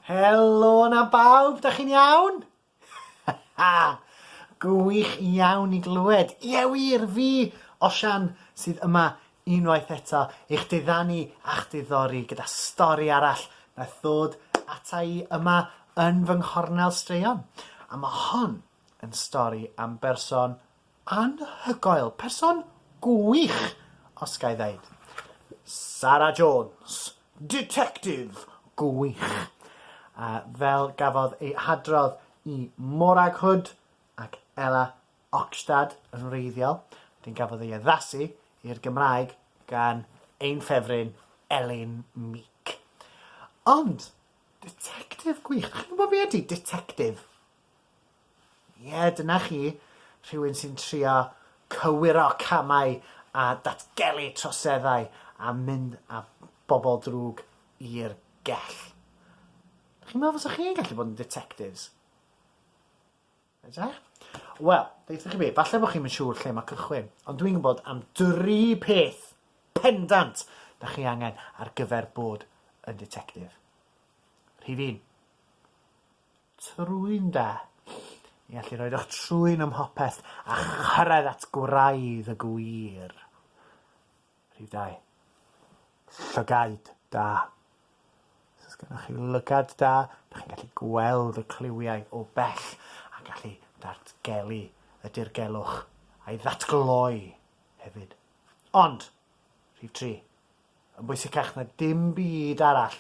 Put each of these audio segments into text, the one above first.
Helo na bawb, da chi'n iawn? Gwych iawn i glywed. Ie wir, fi, Osian, sydd yma unwaith eto i'ch diddanu a'ch diddori gyda stori arall naeth ddod ata i yma yn fy nghornel straeon. A mae hon yn stori am berson Anhygoel! Person gwych! os ga i ddeud. Sara Jones! Ditectif gwych! A fel gafodd ei hadrodd i Morag Hood ac Ella Oxtad yn wreiddiol, wedyn gafodd ei addasu i'r Gymraeg gan ein ffefryn Elin Meek. Ond, ditectif gwych! Dych chi'n gwybod be ydy ditectif? Ie, dyna chi, rhywun sy'n trio cywiro camau a datgelu troseddau a mynd â bobl drwg i'r gell. Chi'n meddwl fysa chi'n gallu bod yn detectives? Edrych? Wel, ddeitha chi be, falle bod chi'n mynd siŵr lle mae cychwyn, ond dwi'n gwybod am dri peth pendant da chi angen ar gyfer bod yn detective. Rhif un. Trwyn da. I allu rhoid eich trwyn ym mhopeth a chyrraedd at gwraidd y gwir. Rhif dau. Llygaid da. Os oes gennych chi lygad da, ydych chi'n gallu gweld y cliwiau o bell a gallu datgelu y dirgelwch a'i ddatgloi hefyd. Ond, rhif tri, yn bwysicach na dim byd arall,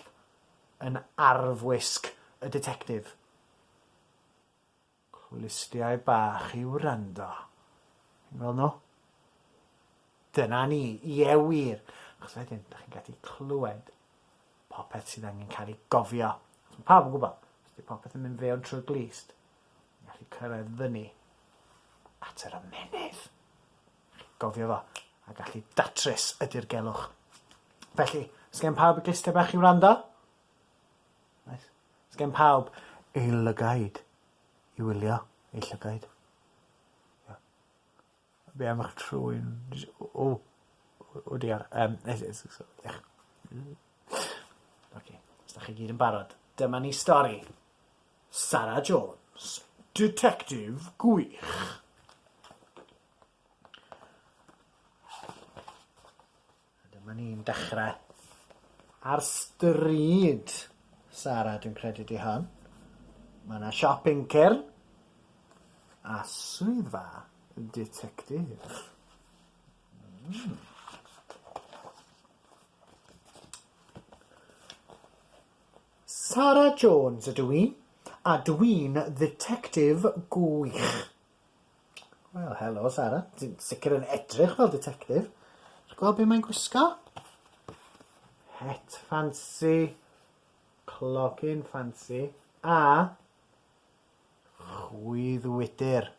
yn arfwisg y Ditectif. Clustiau bach i wrando. Chi'n gweld nhw? Dyna ni, ie wir, achos wedyn, da chi'n gallu clywed popeth sydd angen cael ei gofio. Os mae pawb yn gwybod, os ydy popeth yn mynd fewn trwy'r glist, ni'n gallu cyrraedd fyny at yr ymennydd. Gofio fo, a gallu datrys y dirgelwch. Felly, os gen pawb y gluster bach i wrando? Nice. Os gen pawb ei lygaid i wylio, ei llygaid? Ia. Be am eich trwyn? O! O diar. Yym, Oce, os 'dach chi gyd yn barod, dyma ni stori Sara Jones, Ditectif Gwych. Dyma ni'n dechrau ar stryd Sara, dwi'n credu di hon. Mae yna siop uncern a swyddfa detectif. Mm. Sara Jones ydw i, a dwi'n ddetectif gwych. Wel, helo Sara. Ti'n sicr yn edrych fel ditectif. Ti gweld be' mae'n gwisgo? Het ffansi, clogyn ffansi a chwyddwydr.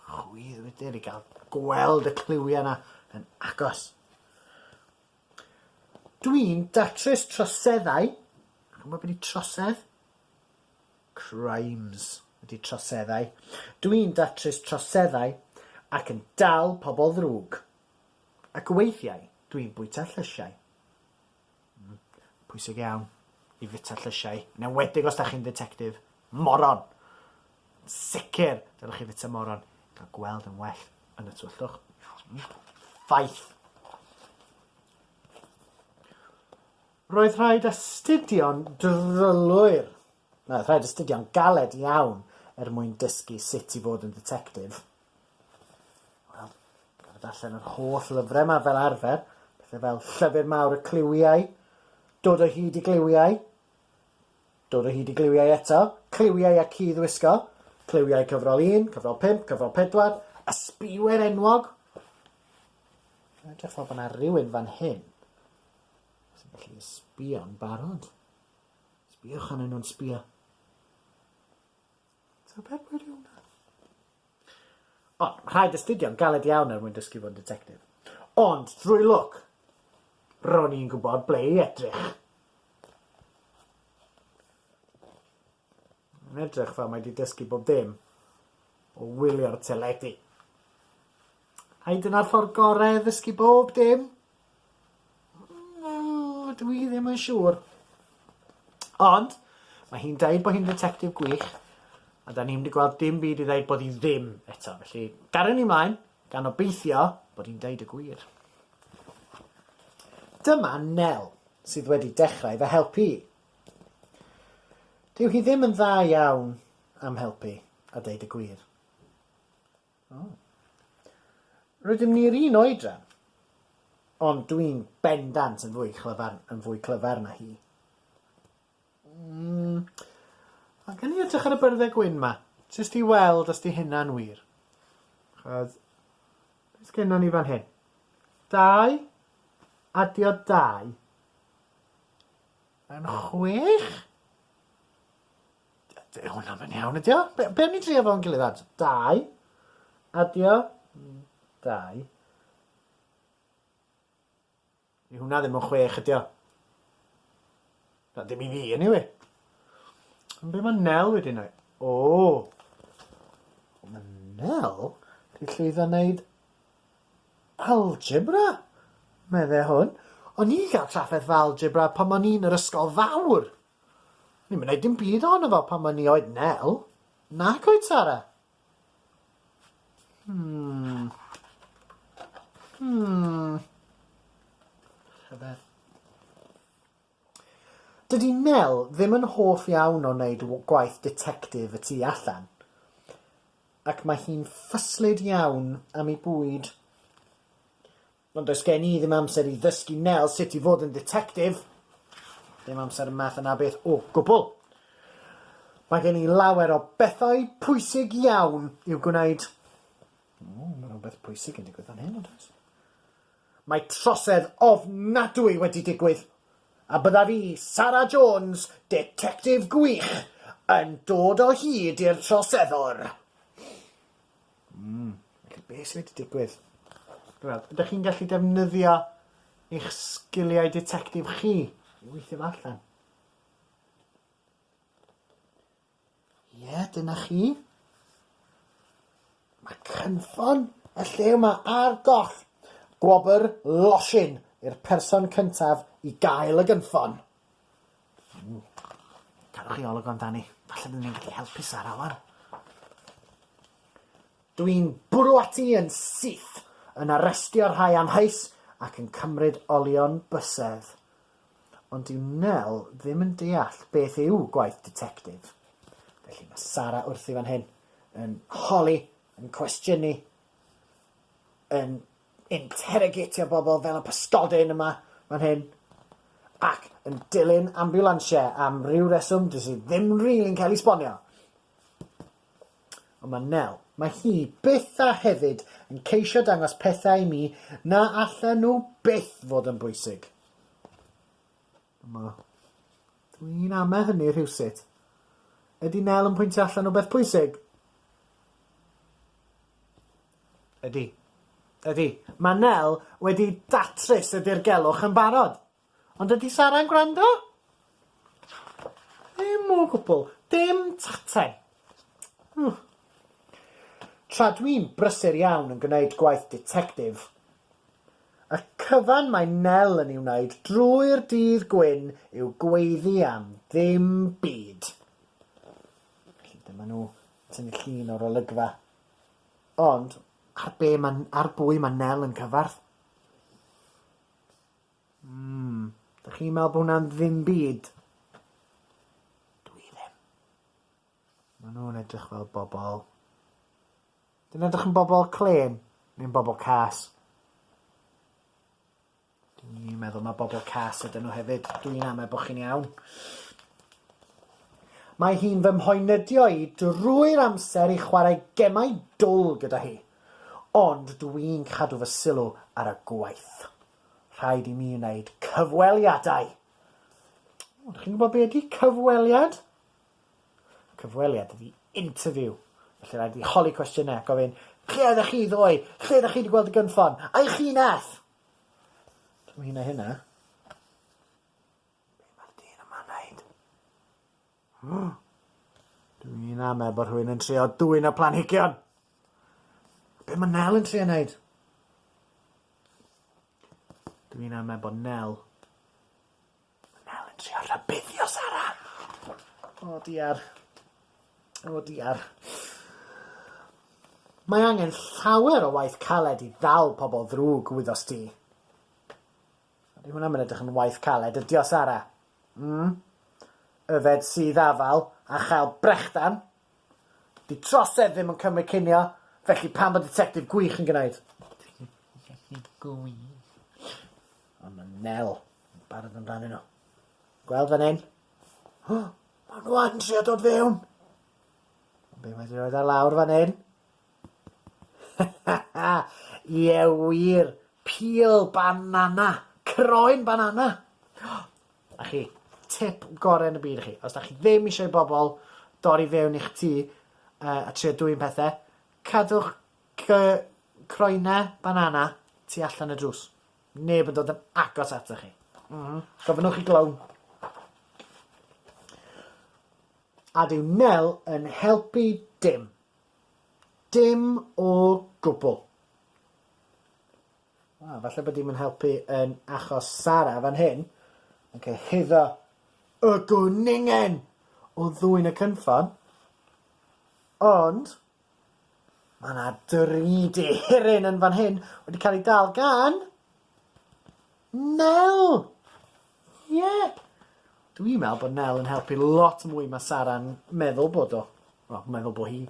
Chwyddwydr i ga'l gweld y cliwia' 'na yn agos. Dwi'n datrys troseddau. Ch'mo' be' 'di trosedd? Crimes ydy troseddau. Dw i'n datrys troseddau ac yn dal pobl ddrwg. Ac weithiau dw i'n bwyta llysiau. Mm, pwysig iawn i fita llysiau, yn enwedig os da chi'n dditectif. Moron! Yn sicr, dylech chi fita moron i gael gweld yn well yn y twyllwch. Ffaith. Roedd rhaid astudio'n drylwyr, na, roedd rhaid astudio'n galed iawn er mwyn dysgu sut i fod yn dditectif. Wel, gorfod darllen yr holl lyfrau yma fel arfer, pethau fel Llyfr Mawr y Cliwiau, Dod o hyd i gliwiau, Dod o hyd i gliwiau eto, Cliwiau a cudd wisgo, Cliwiau cyfrol 1, cyfrol 5, cyfrol 4, Ysbïwyr enwog. Mae'n edrych fel bod yna rhywun fan hyn Os ydych chi'n sbio'n barod, sbiwch arnyn nhw'n sbio. Ti'n peth gwirion da. O, rhaid astudio'n galed iawn er mwyn dysgu fod yn detective. Ond, drwy lwc, ro'n i'n gwybod ble i edrych. Mae'n edrych fel mae 'di dysgu bob dim o wylio'r teledu. Ai dyna'r ffordd gorau o ddysgu bob dim? Mm, dw i ddim yn siŵr. Ond, mae hi'n dweud bod hi'n ddetectif gwych, a da ni ddim wedi gweld dim byd i ddeud bod hi ddim eto. Felly, garen ni mlaen, gan obeithio bod hi'n deud y gwir. Dyma Nel, sydd wedi dechrau fy helpu i. Dyw hi ddim yn dda iawn am helpu, a deud y gwir. O. Rydym ni'r un oedran, ond dwi'n bendant yn fwy clyfar, yn fwy clyfar na hi. Mm. A gen i edrych ar y byrddau gwyn ma, jyst i weld os di hynna'n wir. Chos, beth gennon ni fan hyn? Dau, adio dau. Yn chwech? Dyw hwnna yn iawn, ydy o? Be, be am ni drio fo'n gilydd at? Dau. Adio. Mm, dau. Ni hwnna ddim yn chwech, ydy o? Na, dim i fi, anyway. Ond be mae Nel wedi wneud? O! Mae Nel wedi llwyddo wneud Algebra? medde hwn. O'n i'n cael trafferth fy algebra pan o'n i yn yr ysgol fawr! O'n i'm yn neud dim byd ohono fo pan o'n i oed Nel. Nac oedd Sara? Hmm. Hmm. Rhyfedd. Dydy Nel ddim yn hoff iawn o wneud gwaith ditectif y tu allan, ac mae hi'n ffyslyd iawn am ei bwyd. Ond does gen i ddim amser i ddysgu Nel sut i fod yn dditectif. Dim amser y math yna beth o gwbl. Mae gen i lawer o bethau pwysig iawn i'w gwneud. O, mae rhywbeth pwysig yn digwydd fan hyn, yn does? Mae trosedd ofnadwy wedi digwydd, a bydda fi, Sara Jones, Detectif Gwych, yn dod o hyd i'r troseddwr! Mm, felly beth sydd wedi digwydd? Wel, ydych chi'n gallu defnyddio eich sgiliau detectif chi i weithio allan? Ie, dyna chi. Mae cynffon y lle yma ar goll. Gwobr losin i'r person cyntaf i gael y gynffon. Mm. Cadwch chi olwg amdani. Falle byddwn ni'n gallu helpu Sara wan. Dwi'n bwrw ati yn syth, yn arestio rhai amheus ac yn cymryd olion bysedd. Ond dyw Nell ddim yn deall beth yw gwaith ditectif. Felly mae Sara wrthi fan hyn, yn holi, yn cwestiynu, yn interrogatio bobl fel y pysgodyn yma fan hyn, ac yn dilyn ambiwlansiau am ryw reswm dys i ddim rili'n cael ei sbonio. Ond mae Nel, mae hi byth a hefyd yn ceisio dangos pethau i mi na allen nhw byth fod yn bwysig. Yma. Dwi'n ame hynny rhywsut. Ydy Nel yn pwyntio allan o beth pwysig? Ydy. Ydy. Mae Nel wedi datrys y dirgelwch yn barod. Ond ydy Sara'n gwrando? Ddim o gwbl. Dim tatan. Ww. Tra dwi'n brysur iawn yn gwneud gwaith ditectif, y cyfan mae Nel yn ei wneud drwy'r dydd gwyn yw gweiddi am ddim byd. Felly dyma nhw yn tynnu llun o'r olygfa. Ond ar be ma, ar bwy mae Nel yn cyfarth? Mm. Dych chi'n meddwl bod hwnna'n ddim byd? Dw i ddim. Maen nhw'n edrych fel bobl. Dyn edrych yn bobl clên neu'n bobl cas? Dw i'n meddwl mae bobl cas ydyn nhw hefyd. Dw i'n amau bod chi'n iawn. Mae hi'n fy mhoenydio i drwy'r amser i chwarae gemau dwl gyda hi, ond dw i'n cadw fy sylw ar y gwaith. Rhaid i mi wneud cyfweliadau! O, chi'n gwybod be ydy cyfweliad? Cyfweliad ydy interview. Felly rhaid i holi cwestiynau a gofyn, lle oeddech chi ddoe? Lle ydych chi wedi gweld y gynffon? Ai chi nath? Dwi'n mynd i wneud hynna. Be mae'r dyn yma'n wneud? Dw i'n amau bod rhywun yn trio dwyn y planhigion! Be mae Nel yn trio wneud? Dw i'n amau bod Nel... Mae Nel yn trio rhybuddio Sara! O, diar. O, diar. Mae angen llawer o waith caled i ddal pobl ddrwg, wyddost ti. Ydy hwnna ddim yn edrych yn waith caled, ydy o, Sara? Mm? Yfed sudd afal a chael brechdan? 'Di trosedd ddim yn cymryd cinio, felly pam bod Ditectif Gwych yn gwneud? Ditectif Gwych? Ond mae Nel yn barod amdanyn nhw. Gweld fan hyn? O! Maen nhw yn trio dod fewn! Ond be mae wedi rhoi ar lawr fan hyn? Ha ha ha! Ie wir! Peel banana! Croen banana! A chi, tip gorau yn y byd i chi. Os da chi ddim eisiau i bobl dorri fewn i'ch tŷ uh, a trio dwy'n pethau, cadwch croenau banana tu allan y drws. Neb yn dod yn agos atoch chi. Mm -hmm. Gofynnwch i glown. A dyw Nel yn helpu dim. Dim o gwbl. Wel, falle bod dim yn helpu yn achos Sara fan hyn, yn cyhuddo y gwningen o ddwyn y cynffon, ond mae yna dri dihiryn yn fan hyn wedi cael ei dal gan Nel! Ie! Dwi'n me'wl bod Nel yn helpu lot mwy ma Sara'n meddwl bod o. Wel, meddwl bo hi.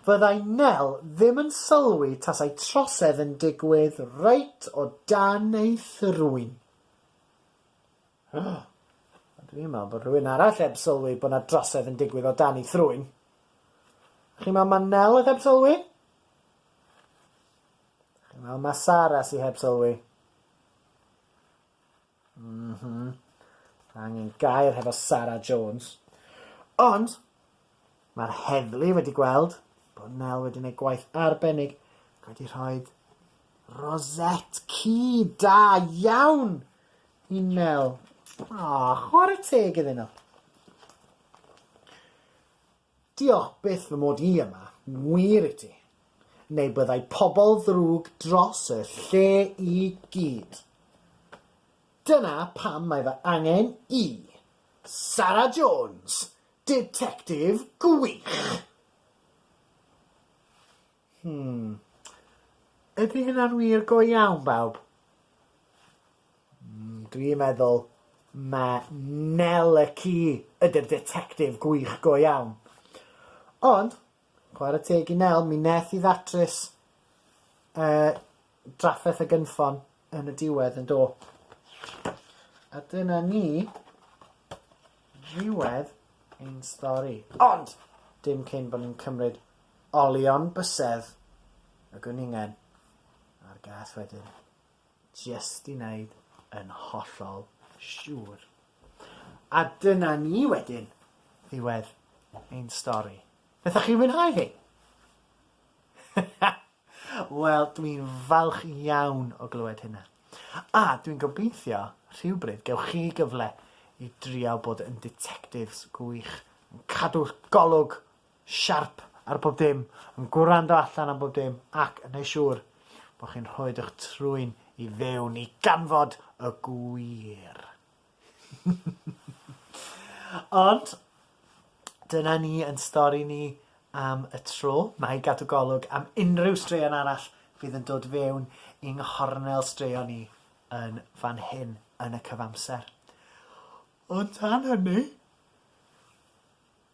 Fyddai Nel ddim yn sylwi tasai trosedd yn digwydd reit o dan ei thrwyn. Ond dwi'n me'wl bod rhywun arall eb sylwi bo na drosedd yn digwydd o dan ei thrwyn. Chi'n me'wl ma Nel o'dd heb sylwi? Chi'n me'wl ma Sara sy heb sylwi? Mhm. Mae angen gair hefo Sara Jones. Ond, mae'r heddlu wedi gweld bod Nel wedi gwneud gwaith arbennig ac wedi rhoi rosette ci da iawn i Nel. O, chwarae teg iddyn nhw. Diolch byth fy mod i yma, wir i ti. Neu byddai pobl ddrwg dros y lle i gyd. Dyna pam mae fy angen i. Sara Jones! Ditectif gwych! Hmm. Ydy hynna'n wir go iawn, bawb? Mm, dwi'n meddwl ma Nel y ci ydy'r detectif gwych go iawn. Ond, chwarae teg i Nel, mi neth i ddatrys uh, drafferth a gynffon yn y diwedd yn do. A dyna ni ddiwedd ein stori. Ond dim cyn bod ni'n cymryd olion bysedd y gwningen a'r gath wedyn, jyst i wneud yn hollol siŵr. A dyna ni wedyn ddiwedd ein stori. Naethoch chi fwynhau hi? Wel, dwi'n falch iawn o glywed hynna. A dwi'n gobeithio rhywbryd gewch chi gyfle i drio bod yn ditectifs gwych, yn cadw golwg siarp ar bob dim, yn gwrando allan am bob dim ac yn neu' siŵr bod chi'n rhoid 'ych trwyn i fewn i ganfod y gwir. Ond, dyna ni yn stori ni am y tro. Mae i gadw golwg am unrhyw straeon arall fydd yn dod fewn i nghornel straeon ni yn fan hyn yn y cyfamser. Ond tan hynny,